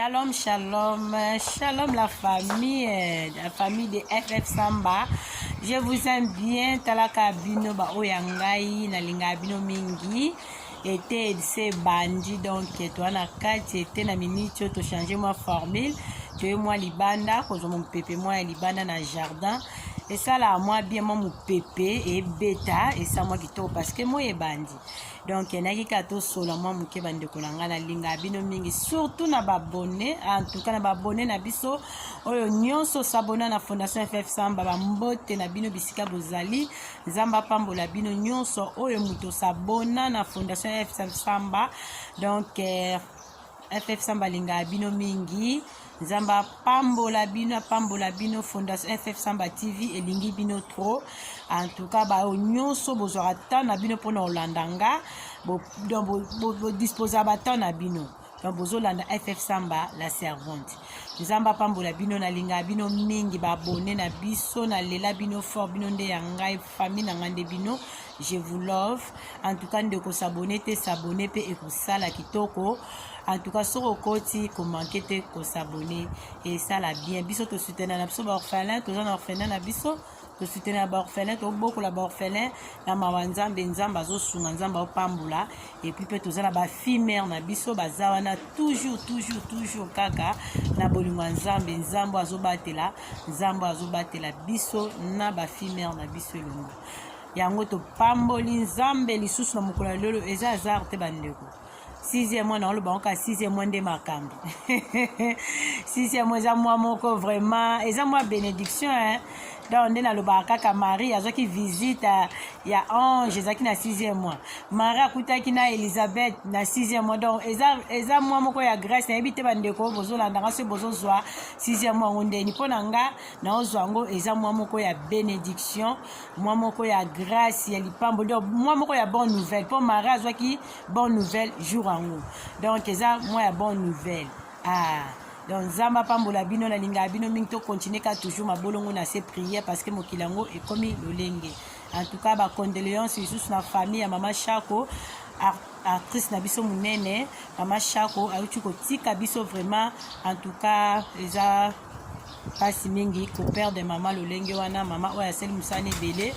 Shalom, shalom, shalom la famille, la famille de FF Samba. Je vous aime bien, talaka bino ba oyangai, na linga bino mingi. Ete se bandi donc toi na kati ete na minute to changer moi formule, toye moi libanda, kozwa mopepe moi ya libanda na jardin. esalaka mwa bien mwa mopepe ebeta esa mwa kitoko parce que moi ebandi donc nayaki kaka tosola mwa moke bandeko na ngai nalingaka bino mingi surtout na babone antuka na babone na biso oyo nyonso sabona na fondation ff samba bambote na bino bisika bozali nzambe apambola bino nyonso oyo moto sabona na fondation ff samba donc eh, FF Samba alingaka bino mingi. Nzambe apambola bino, apambola bino. Fondation FF Samba TV elingi bino trop. En tout cas, bayo nyonso bozwaka temps na bino mpona kolanda nga, bodisposa ba temps na bino donc bozolanda ff samba la servante nzambe apambola bino nalingaka bino mingi babone na biso nalela bino fort bino nde ya ngai famille na ngai nde bino je vous love en tout cas ndeko s'abonner te s'abonner mpe ekosala kitoko en tout cas soki okoti komanke te kosabonner esala bien biso tosutena na biso baorphelin toza na orphelin na biso tosutena baorphelin tobokola baorphelin na mawa nzambe nzambe azosunga nzambe aopambola epuis mpe toza na bafimere na biso baza wana toujours toujours toujours kaka na bolingo ya nzambe nzambe azobatela nzambe azobatela biso na bafimere na biso elongo yango topamboli nzambe lisusu na mokolo ya lelo eza hasard te bandeko sixième mois nango lobango kaka sixième mois nde makambo sixième mois eza mwa moko vraiment eza mwa bénédiction hein? donc nde nalobaka kaka marie azwaki visite ya ange ezalaki na sixième mois marie akutaki na elisabeth na sixième mois donc eza, eza mwa moko ya grèce nayebi te bandeko bozolandanga soki bozozwa sixième mois yango ndeni mpo na nga naozwa yango eza mwa moko ya bénédiction mwa moko ya grâce ya lipambo donc mwa moko ya bonne nouvelle mpo marie azwaki bonne nouvelle jour yango donc eza mwa ya bonne nouvelle ah. donc nzambe apambola bino nalingaka bino mingi tokontinue ka toujours mabolongo na se prière parce que mokili yango ekomi lolenge en tout cas bacondoléance lisusu na famille ya mama shako actrice na biso monene mama shako auti kotika biso vraiment en tout cas eza pasi mingi ko perdre mama lolenge wana mama oyo asali mosala ebele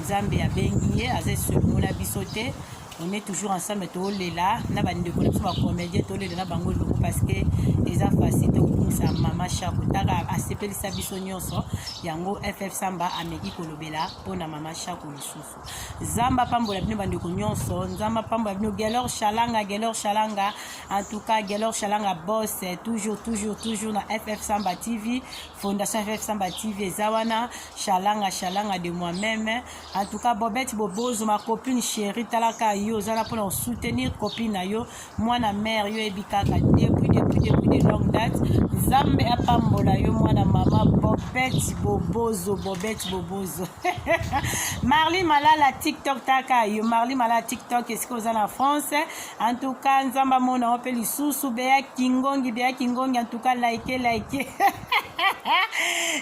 nzambe abengi ye aza esolongo na biso te on est toujours ensemble tolela na bandeko na biso bacomédien tolela na bango eloko parce que eza facile te kokumisa mama shako taka asepelisa biso nyonso yango ff samba ameki kolobela mpo na mama shako lisusu Zamba apambola bino bandeko nyonso nzambe apambola bino gelor shalanga gelor shalanga en tout cas gelor shalanga boss toujours toujours toujours na ff samba tv fondation ff samba tv eza wana shalanga shalanga de moi même en tout cas bobette bobozo ma copine chérie talaka yo oza na mpona kosoutenir copine na yo mwana mère yo ebi kaka depuis depuis depuis de longue date nzambe apambola yo mwana mama bobeti bobozo bobeti bobozo marli malala tiktok taka yo marli malala tiktok esika oza na france en tout cas nzambe amona yo mpe lisusu beya kingongi beya kingongi en tout cas like like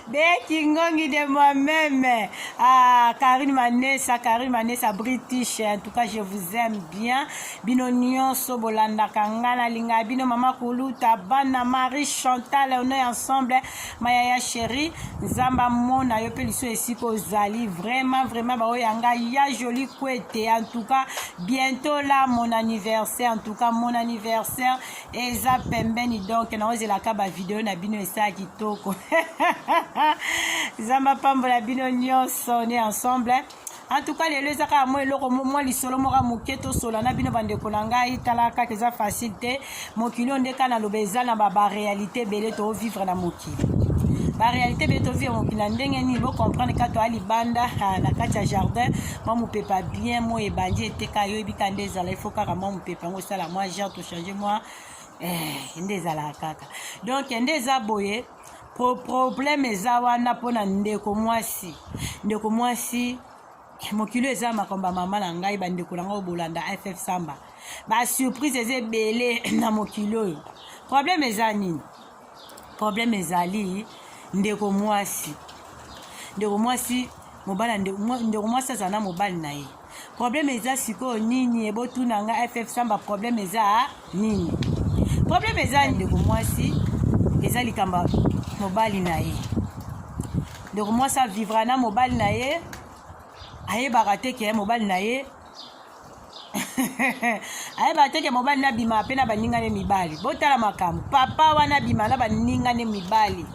beya kingongi de moi même ah, karine manesa karine manesa british en tout cas je vous aime bien bino nyonso bolandaka nga nalinga bino mama kuluta bana marie chantal on est ensemble mayaya chéri nzambe amona yo mpe liso esika ozali vraiment vraiment baoyo ya ngai ya joli kwete en tout cas bientôt là mon anniversaire en tout cas mon anniversaire eza pembeni donc naozelaka bavideo na bino esala kitoko nzambe apambola bino nyonso on est ensemble en tout cas lelo eza kaka mwa eloko mwa lisolo moka moke tosola na bino bandeko na ngai tala kaka eza facile te mokili oyo nde kaka naloba eza na baréalité ebele tovivre na mokili baréalité ebele tovivre mokili na ndenge nini bocomprendre kaka toya libanda ah, na kati ya jardin mwa mopepa bien mo ebandi eteka yo oyebi kaka nde ezala ifo kaka mwa mopepa yango esala mwa genre tochange mwa eh, nde ezalaka kaka donc nde eza boye Pro problème eza wana mpo na ndeko mwasi ndeko mwasi mokili eza makambo ya mama na ngai bandeko na ngai bolanda ff samba basurprise eza ebele na mokili oyo problème eza nini problème ezali ndeko mwasi ndeko mwasi mobali ndeko mwasi azala na mobali na ye problème eza sikoyo nini ebotuna nga ff samba problème eza nini problème eza ndeko mwasi eza likambo mobali na ye ndeko mwasi avivra na mobali na ye ayebaka te ke mobali na ye ayebaka te ke mobali na bima mpe na baninga ne mibali botala makambo papa wana bima na baninga ne mibali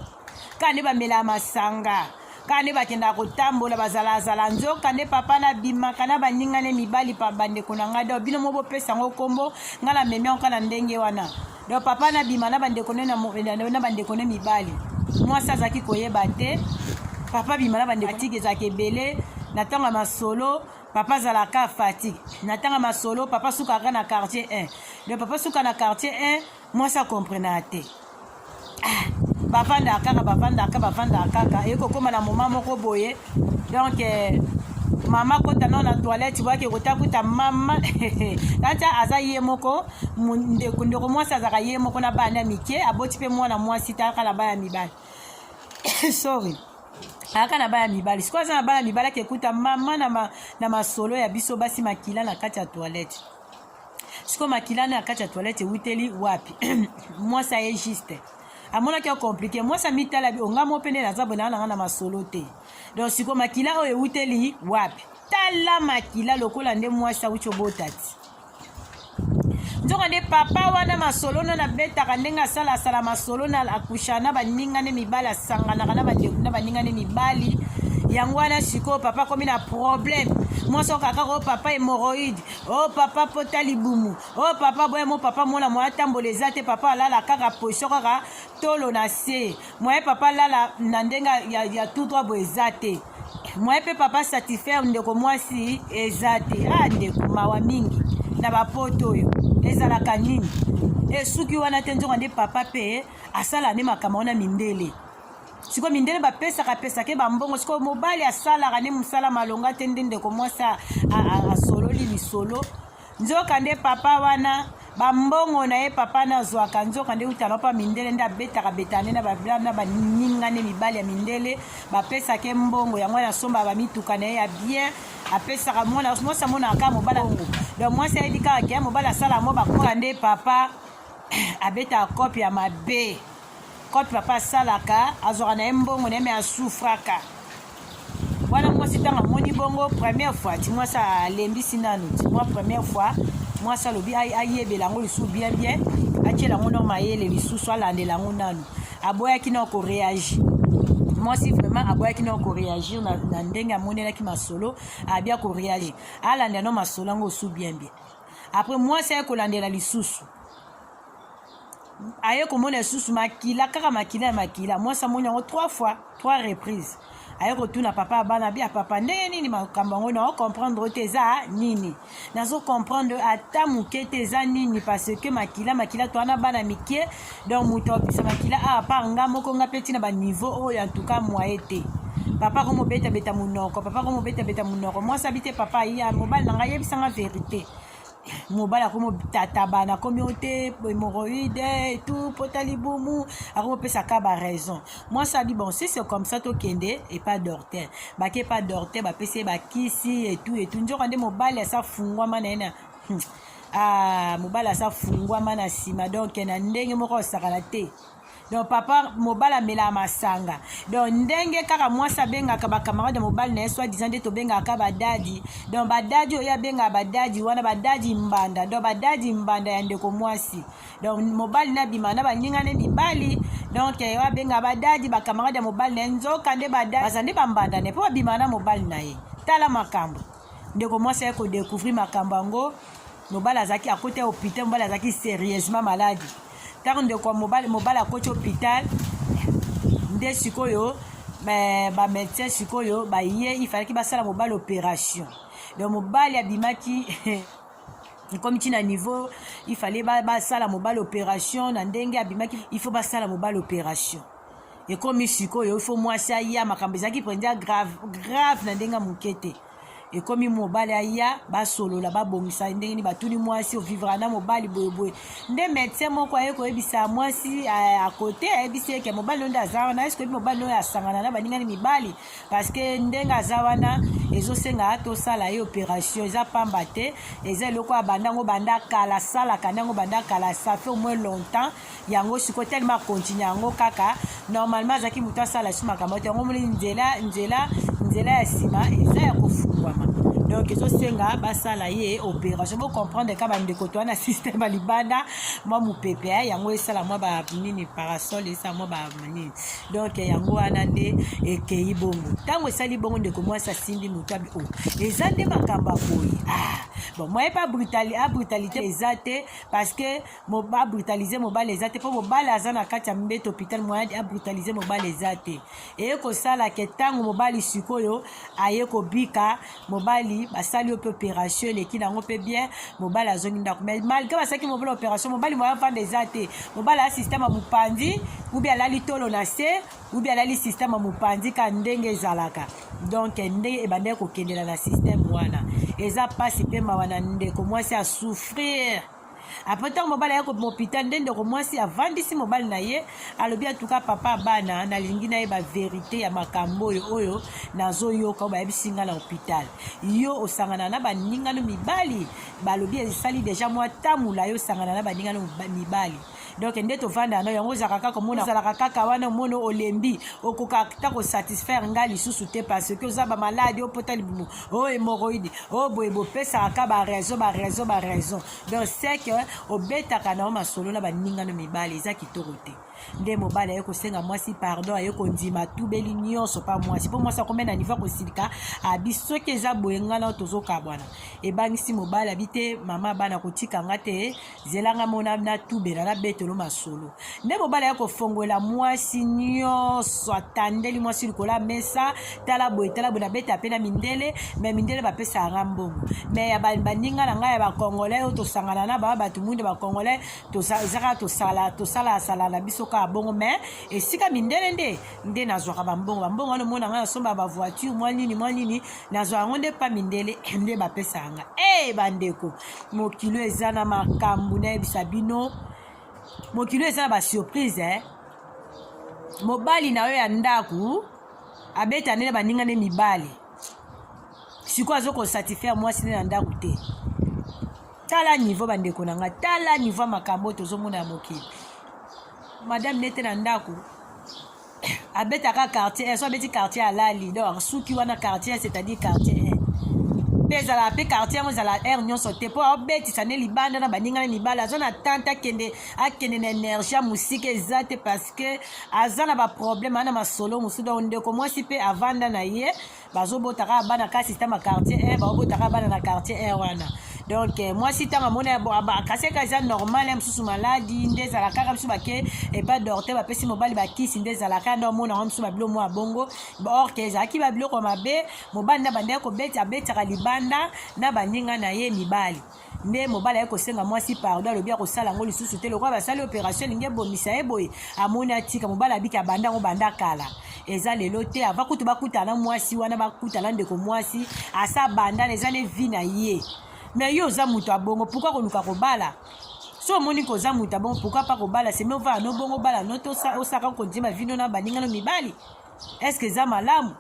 kaka nde bamelaa masanga kaka nde bakendaka kotambola bazalazala nzoka nde papa nabimaka na baninga ne mibali pa bandeko na ngai donc bino mo bopesa yango nkombo ngai na memi yango na ndenge wana donc papa nabima na bandeko ne na bandeko ne mibali mwasi azalaki koyeba te papa bima na bandeko atiki ezalaka ebele na ntango ya masolo papa azalaka fatigue na ntango ya masolo papa sukaka na quartier 1 donc papa suka na quartier 1 mwasi akomprenaka te ah, bavandaka kaka bavandaka kaka bavandaka kaka ekokóma na moma moko boye donc eh, mama kota nao na toilette boyake kota kuta mama kati aza ye moko ndeko ndeko mwasi azalaka ye moko na bana ya mike aboti mpe mwana mwasi taka na bana ya mibali sorry aka na bana mibali sikoyo aza na bana mibali akekuta mama na, ma, na masolo ya biso basi makila na kati ya toilette siko makila na kati ya toilette ewuteli wapi mwasi aye juste amonaki yo komplike mwasi amitala bi onga mo pene naza bonaa nanga na masolo te donc siko makila oyo ewuteli wapi tala makila lokola nde mwasi awuti obota ti nzoka nde papa wana masolo na nabetaka ndenge asala asala masolo na akusha na baninga nde mibali asanganaka na baninga nde mibali yango wana sikoyo papa akomi na problème mwasi okakaka o papa hemoroïde o oh, papa pota libumu o oh, papa boye mo papa mola moya tambola eza te papa alala kaka position kaka tolo na se moye papa alala na ndenge ya, ya tout droit boye eza te moye mpe papa satisfaire ndeko mwasi eza te a ah, ndeko mawa mingi na bapoto oyo ezalaka nini esuki wana te nzoka nde papa mpe asala nde makambo wana mindele sikoyo mindele bapesaka pesake bambongo sikoyo mobali asalaka nde mosala malonga te nde ndeko mwasi asololi lisolo nzoka nde papa wana bambongo na ye papa na azwaka nzoka nde utala mpa mindele nde abetaka betane na baninga nde mibali ya mindele bapesaka ye mbongo yango wana asombaka bamituka na ye ya bien apesaka mwana mwasi amonaka kaka mobala ngo donc mwasi ayebi kaka ke mobali asala yango bakoka nde papa abetaka kope ya mabe Cote papa asalaka azwaka na ye mbongo na ye me asufraka wana mwasi ntango amoni bongo première fois ti mwasi alembisi nanu ti mwa première fois mwasi alobi ayebela yango lisusu bien bien atyela yango nao mayele lisusu alandela yango nanu aboyaki nao koreagir mwasi vraiment aboyaki nao koreagir na, na ndenge amonelaki masolo abia koreagir alandela nao masolo yango osu bien bien après mwasi aye kolandela lisusu aye komona lisusu makila kaka makila ya makila mwasi amoni yango trois fois trois reprise aye kotuna papa ya bana bia papa ndenge nini makambo yango nao comprendre te eza nini nazo comprendre ata moke te eza nini parce que makila makila to wana bana mike donc moto abisa makila a ah, part nga moko nga mpe ntina baniveau oyo en tout cas moye te papa ko mobetabeta monoko papa ko mobetabeta monoko mwasi abi te papa ya mobali na ngai yebisanga verité mobali akomi otatabana akomi o te hémorroïde et tout pota libumu akomi opesa ka ba raison mwasi adi bon si c'est comme ça tokende epa dorte bake epa dorte bapesi ye bakisi et tout et tout nzoka nde mobali asa fungwama na ye na hmm. ah, mobali asa fungwama na nsima donc na ndenge moko osakana te donc papa mobali amelaka masanga donc ndenge kaka mwasi abengaka bacamarade ya mobali na ye soi disant nde tobengaka kaka badadi donc badadi oyo abengaka badadi wana badadi mbanda donc badadi mbanda ya ndeko mwasi donc mobali nabima na baninga ne mibali donc eh, oyo abengaka badadi bacamarade ya mobali na ye nzoka nde badadi baza nde bambanda ne mpo babima na mobali na ye tala makambo ndeko mwasi aye kodecouvrir makambo yango mobali azalaki akota hopital mobali azalaki serieusement maladi ntango ndeko ya mobali mobali akoti hopital nde sikoyo bamédecin sikoyo baye ifalaki basala mobali opération donc mobali abimaki ekomi ti na niveau ifale basala mobali opération na ndenge abimaki il faut basala mobali opération ekomi sikoyo il faut mwasi aya makambo ezalaki mpenza grave grave na ndenge ya moke te ekomi mobali aya basolola babongisa ndenge nini batuni mwasi ovivra na mobali boyeboye nde medecin moko aye koyebisa mwasi eh, akote ayebisi eke mobali oyo nde aza wana eske oyebi mobali oyo asangana na baningani mibali parceke ndenge aza wana ezosenga tosala ye opération eza pamba te eza eloko ya banda yango banda kala asalaka nde yango banda kala ça fait au moins longtemps yango sikoyo telema akontinue yango kaka normalement azalaki moto asala su makambo te yango omoni nzela nzela nzela ya nsima eza ya kofungwama donc ezosenga basala ye opération bocomprendre ka bandeko to wana système ya libanda mwa mopepe eh, yango esala mwa banini parasol esala mwa banini donc yango wana nde ekei bongo ntango esali bongo ndeko mwasi asimbi moto abi o oh, eza nde makambo ya boye ah bon moyen mpe abrutalité eza te parce que ba brutaliser mobali eza te mpo mobali aza na kati ya mbeto hôpital moyen a brutaliser mobali eza te eye kosala ke ntango mobali sikoyo aye kobika mobali basali yo mpe opération eleki nango mpe bien mobali azongi ndako mais malgré basalaki mobali opération mobali moyen vanda eza te mobali aya système ya mopanzi ubi alali tolo na se ubi alali système ya mopanzi ka ndenge ezalaka donc ndenge ebandaki kokendela na système wana eza mpasi mpe mawa na ndeko mwasi asouffrir apres ntango mobali aye kobima hopital nde ndeko mwasi avandisi mobali na ye alobi atuka papa bana nalingi nayeba verite ya makambo oyo oyo nazoyoka oyo bayebisi ngai na hopital yo osangana na baningano mibali balobi esali deja mwa tamula yo osangana na baningano mibali donc nde tovandaka no yango ozalaka kaka omona ozalaka kaka wana omona olembi okoka ta kosatisfaire ngai lisusu te parce que oza bamaladi opota libumu o oh, hemoroïde o oh, boye bopesaka ka baraison baraison baraison donc c'est que obetaka na yo masolo na baninga no mibale eza kitoko te nde mobali aye kosenga mwasi pardon aye kondima tubeli nyonso mpa mwasi mpo mwasi akomi na nivo kosilika abi soki eza boye ngai nao tozokabwana ebangisi mobali abi te mama bana kotika nga te zela nga mona natubela nabetelo masolo nde mobali aya kofongwela mwasi nyonso atandeli mwasi likolo ya mesa tala boye tala boye nabeta mpe na mindele me mindele bapesaka nga mbongo me ya baninga na ngai ya bakongolai oyo tosangana na baa bato mwinda bakongolai ezaka tosala tosalasala na biso kaka bongo me esika mindele nde nde nazwaka bambongo bambongo wana omona ngai nasomba bavoiture mwa nini mwa nini nazwaka yango nde mpa mindele nde bapesaka nga e hey, bandeko mokili oyo eza na makambo nayebisa bino mokili oyo eza na basurprise eh? mobali na yo ya ndako abeta nde na baninga nde mibali sikoyo azo kosatisfaire mwasi nde na ndako te tala nivo bandeko na ngai tala nivo ya makambo oyo tozomona ya mokili madame nete na ndako abetaka quartier so abeti quartier alali donc suki wana quartier c'est-à-dire quartier mpe ezala mpe quartier yango ezala aire nyonso te mpo aobetisa nde libanda na baninga na mibali aza na tante akende akende na energie ya mosika eza te parce que aza na baproblème aza na masolo mosusu donc ndeko mwasi mpe avanda na ye bazobota kaka bana ka système ya quartier un baobota kaka bana na quartier un wana donc euh, mwasi ntango amoni kasi eka eza normal ya mosusu maladi nde ezala kaka biso bake epa dorte bapesi mobali bakisi nde ezala kaka nde omona yango biso babilo mwa bongo or ke ezalaki babiloko mabe mobali na bandaki kobeti abetaka libanda na baninga na ye mibali nde mobali ayaki kosenga mwasi pardon alobi akosala yango lisusu te lokola basali operation elingi ebomisa ye boye amoni atika mobali abiki abanda yango banda kala eza lelo te ava kutu bakutana mwasi wana bakutana ndeko mwasi asa abandana eza ne vi na ye me yo oza moto abongo pourkui koluka kobala so omoni koza moto abongo pourkui pa kobala semevaa no bongo bala no to osaka konzima vino na baninga no mibali est ce que eza malamu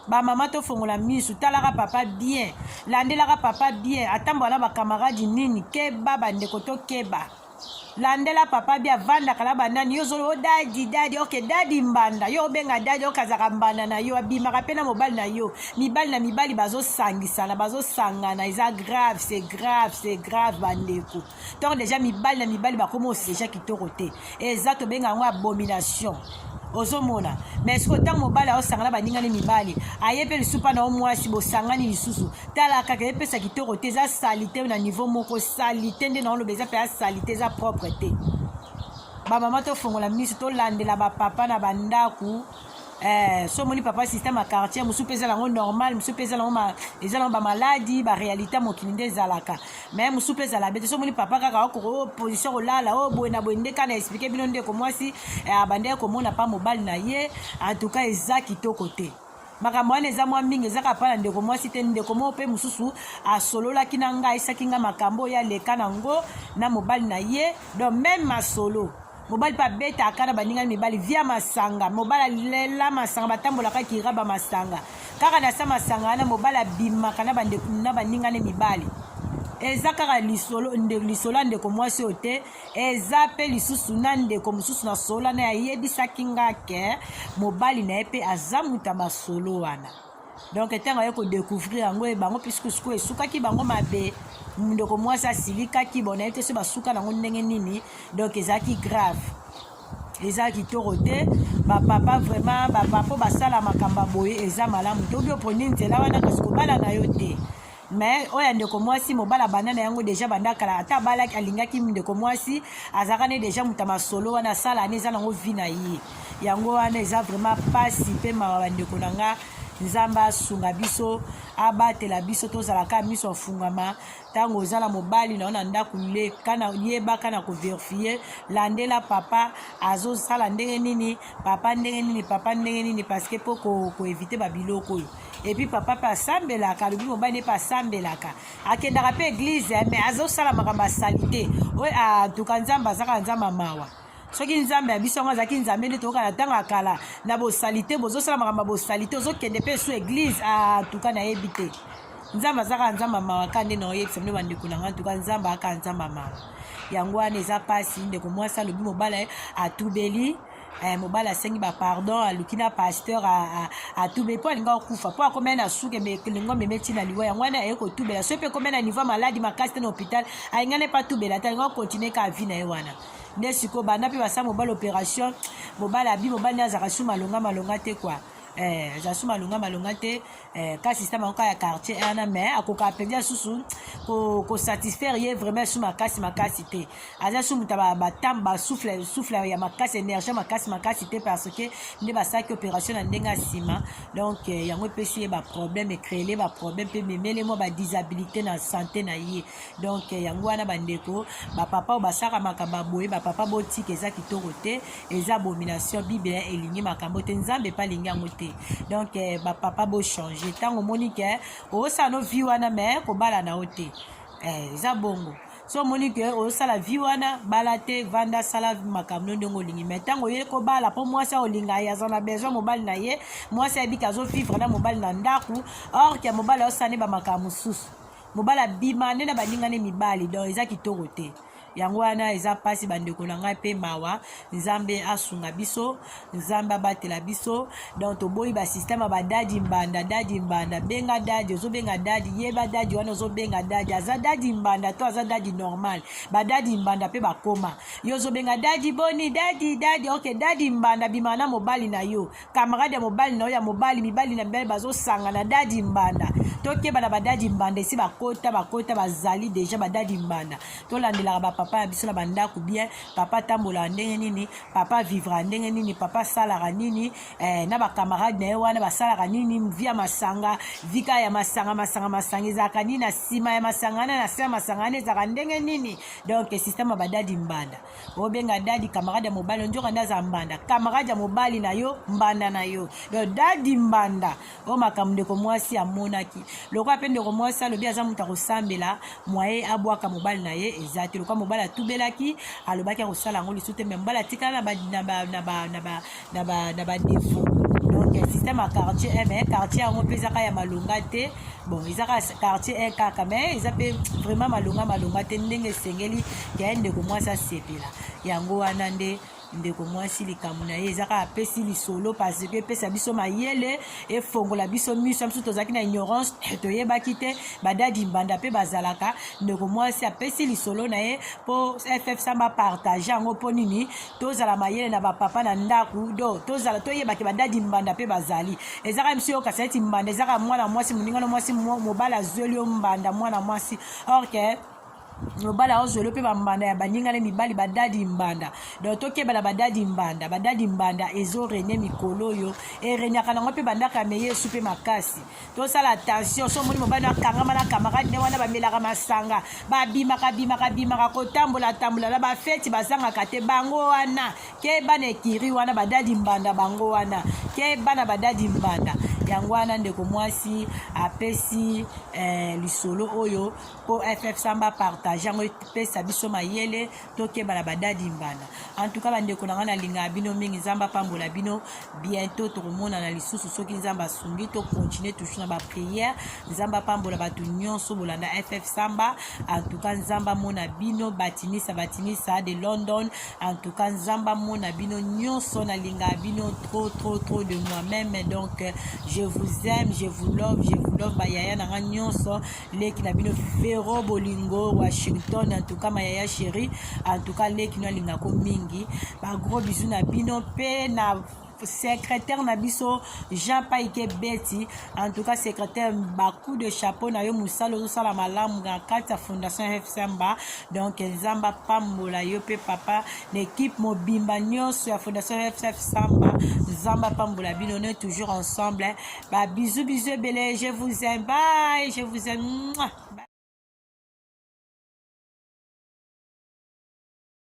bamama tofongola misu talaka papa bien landelaka papa bien atambola na bakamaradi nini keba bandeko tokeba landela papa bia avandaka na banani yo ozoli o oh, dadi dadi oke dadi mbanda yo obenga dadi oke azalaka mbanda na yo abimaka mpe na mobali na yo mibali na mibali bazosangisana bazosangana eza grave se grave se grave bandeko ntango deja mibali na mibali bakomi osi deja kitoko te eza tobenga yango abomination ozomona mai soki ntango mobali aosangana baningani mibali aye mpe lisusu mpa na yo mwasi bosangani lisusu tala kaka epesa kitoko te eza salite na niveau moko salite nde naoloba eza mpenza salite eza propre te bamama tofongola miso tolandela bapapa na bandako Eh, so omoni papa système ya quartier mosusu mpe ezala yango normal mosusu mpe ezala yango ezala yango bamaladi baréalité mokili nde ezalaka mais mosusu mpe ezala bete so omoni papa kaka okoko oh, position kolala o oh, boye na boye nde kaka na explike bino ndeko mwasi eh, abandaki komona mpa mobali na ye en tout cas eza kitoko te makambo wana eza mwa mingi ezaka mpa na ndeko mwasi te ndeko moko mpe mosusu asololaki na ngai ayisaki ngai makambo oyo aleka na yango na mobali na ye donc meme masolo mobali mpe abetaka na baningani mibali via masanga mobali alela masanga batambolaka kiraba masanga kaka na sa masanga wana mobali abimaka na baningani mibali eza kaka lisolo ndeko lisolo ya ndeko mwasi oyo te eza mpe lisusu na ndeko mosusu na solo wana ayebisaki nga ke mobali na ye mpe aza moto ya masolo wana donc ntango aye kodecouvrir yango ye bango pisikusuku esukaki bango mabe ndeko mwasi asilikaki bona ye te so basuka nango ndenge nini donc ezalaki grave eza kitoko te bapapa vraiment bapapa basala makambo ya boye eza malamu te obi oponi nzela wana kasi kobala na yo te mais oyo ya ndeko mwasi mobala banda na yango deja banda kala ata abalaki alingaki ndeko mwasi azalaka ne deja moto ya masolo wana asala ne eza nango vi na ye yango wana eza vraiment mpasi mpe mawa bandeko na nga nzambe asunga biso abatela biso tozalaka miso afungama ntango oza na mobali na yo na ndako leka na yebaka na koverifie landela papa azosala ndenge nini papa ndenge nini papa ndenge nini parce que mpo koevite babiloko oyo epuis papa mpe asambelaka alobi mobali ne mpe asambelaka akendaka mpe eglize eh, mais azosala makambo ya salite oyo antuka nzambe azaka nzambe mawa soki nzambe ya biso yango azalaki nzambe nde tokoka na ntango ya kala na bosalite bozosala makambo ya bosalite ozokende mpe su eglize antuka ah, nayebi te nzambe azaka nzambe mawa ka nde naoyebisa bino bandeko na ngai antuka nzambe aka nzambe mawa yango wana eza mpasi ndeko mwasi alobi mobala atubeli eh, mobali asengi bapardon aluki na pasteur atube mpo alinga kokufa mpo akomai na suke elingo ameme ntina liwa yango wana aye kotubela soki mpe ekomai na niveau maladi makasi te na hôpital alingani mpe atubela te alinga kokontinue ka avi na ye wana nde sikoyo banda mpe basala mobali opération mobali abi mobali nde azalaka su malonga malonga te kua eh, aza su malonga malonga te Eh, kasi sista makoka ya quartier wana eh, mais akoka mpenza susu kosatisfaire ye vraiment su makasi makasi te aza su moto batambe basouffle souffle ya makasi énergie makasi makasi te parce que nde basalaki opération na ndenge ya nsima donc eh, yango epesi ye baproblème ecréele baproblème mpe memele mwa badisabilité na santé na ye donc yango wana bandeko bapapa oyo basalaka makambo ya boye bapapa botika eza kitoko te eza abomination bible elingi makambo te nzambe mpe alingi yango te donc eh, bapapa bochange ntango omoni ke osala no vi wana me kobala na yo te eh, eza bongo so omoni ke osala vi wana bala te vanda sala makambo no ndenge olingi mai ntango oye kobala mpo mwasi aolinga ye aza na besoin mobali na ye mwasi ayebiki azovivre na mobali na ndako or ke mobali aosala nde bamakambo mosusu mobali abima nde na baninga ne mibali donc eza kitoko te yango wana eza mpasi bandeko na ngai mpe mawa nzambe asunga biso nzambe abatela biso donc toboyi basysteme ya badadi mbanda dadi mbanda benga dadi ozobenga dadi yeba dadi wana ozobenga dadi aza dadi mbanda to aza dadi normal badadi mbanda mpe bakoma yo ozobenga dadi boni dadi dadi ok dadi mbanda bima na mobali na yo camarade ya mobali na yo ya mobali mibali na mibali bazosangana dadi mbanda tokeba na badadi mbanda esi bakota bakota bazali deja badadi mbanda tolandelaka bapapa ya biso na bandako bien papa atambolaka ndenge nini papa vivraka ndenge nini papa asalaka nini eh, na bacamarade na ye wana basalaka nini vi ya masanga vika ya masanga masanga masanga ezalaka nini na nsima ya masanga na na se ya masanga wana ezalaka ndenge nini donc systeme ya badadi mbanda obenga dadi camarade ya mobali onjoka nde aza mbanda camarade ya mobali na yo mbanda na yo donc dadi mbanda oyo makambo ndeko mwasi amonaki lokola mpe ndeko mwasi alobi aza moto akosambela mwaye abwaka mobali na ye eza te lokola mobali atubelaki alobaki akosala yango lisusu te me mobali atikala na na ba na ba défaut donc système ya quartier eh, mais quartier yango mpe ezaka ya malonga te bon eza kaka quartier e kaka mais eza mpe vraiment malonga malonga te ndenge esengeli ya ye ndeko mwasi asepela yango wana nde ndeko mwasi likambo na ye eza kaka apesi lisolo parce que epesa biso mayele efongola biso miso ya biso tozalaki na ignorance toyebaki te badadi mbanda mpe bazalaka ndeko mwasi apesi lisolo na ye mpo ff samba partage yango mpo nini tozala mayele na bapapa na ndako do tozala toyeba ke badadi mbanda mpe bazali eza kaka biso yokasa eti mbanda eza kaka mwana mwasi moninga na mwasi mobali azweli yo mbanda mwana mwasi or ke mobali aozweli mpe bambanda ya baninga na mibali badadi mbanda donc tokeba na badadi mbanda badadi mbanda ezo rene mikolo oyo erenyaka nango mpe bandako ya meyesu mpe makasi tosala attention so omoni mobali akangama na camarade ne wana bamelaka masanga babimaka bimaka bimaka kotambola tambola na bafeti bazangaka te bango wana keba na ekiri wana badadi mbanda bango wana keba na badadi mbanda yango wana ndeko mwasi apesi eh, lisolo oyo mpo ff samba partage yango epesa biso mayele tokeba na badadi mbanda en tout cas bandeko na ngai nalingaka bino mingi nzambe apambola bino bientôt tokomonana lisusu soki nzambe asungi tocontinue toujours na baprière nzambe apambola bato nyonso bolanda ff samba en tout cas nzambe amona bino batinisa batinisa de london en tout cas nzambe amona bino nyonso nalingaka bino trop trop trop de moi même donc je vous aime je vous love je vous love bayaya na ngai nyonso leki na bino vero bolingo washington antuka mayaya sheri antuka leki no alingako mingi bagro bizu na bino mpe na secrétaire na biso jean paike beti en tout cas secrétaire bacoup de chapeau na yo mosala ozosala malamu na kati ya fondation fsmba donc nzambe apambola yo mpe papa na équipe mobimba nyonso ya fondation fsmba nzambe apambola bino ne toujours ensemble Ba bisous bisous ebele, je vous aime. Bye, je vous aime. Mouah.